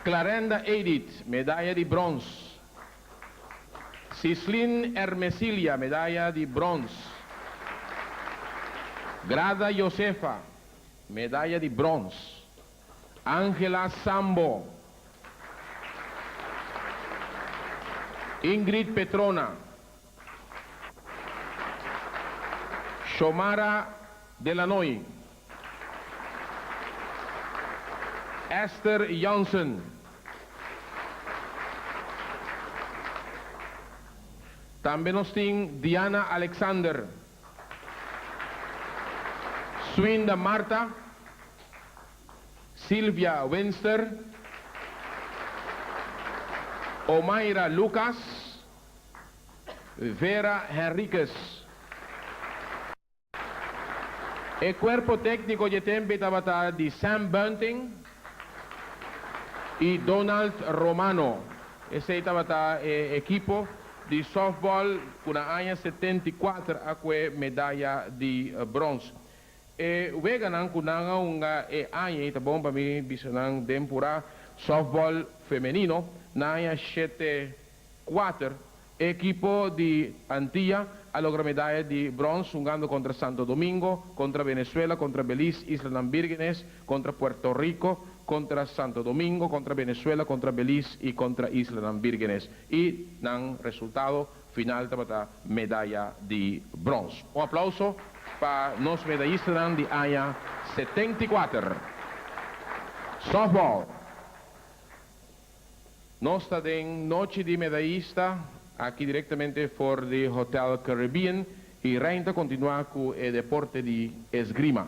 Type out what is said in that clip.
Clarenda Edith, medaya di brons. Cislin Ermesilia, medaya di brons. Grada Josefa, medaya di brons. Angela Sambo. Ingrid Petrona, Shomara de Lanoy. Esther Jansen. Tambe nos tin Diana Alexander. Swinda Marta. Silvia Winster. Omaira Lucas. Vera Henriquez. E cuerpo tecnico dje tempe tabata di Sam Bunting y Donald Romano. Esey tabata e equipo di softball cu na aña setenta y kuater a cue medaya di brons. E weganan cu nan a hunga e aña y ta bon pa mi bisa nan den pura softball femenino na aña shete Kuater ekipo di Antia a logra medaya di brons hungando kontra Santo Domingo, kontra Venezuela, kontra Beliz, Islanan Bírgenes, kontra Puerto Riko, kontra Santo Domingo, kontra Venezuela, kontra Beliz i kontra Islanan Bírgenes i nan resultado final tabata medaya di brons. Un aplauso pa nos medayistanan di aña setenta i kuater. Softball. Nos ta den nochi di medaista aki directamente for di Hotel Caribbean y Rein ta continua cu e deporte di Esgrima.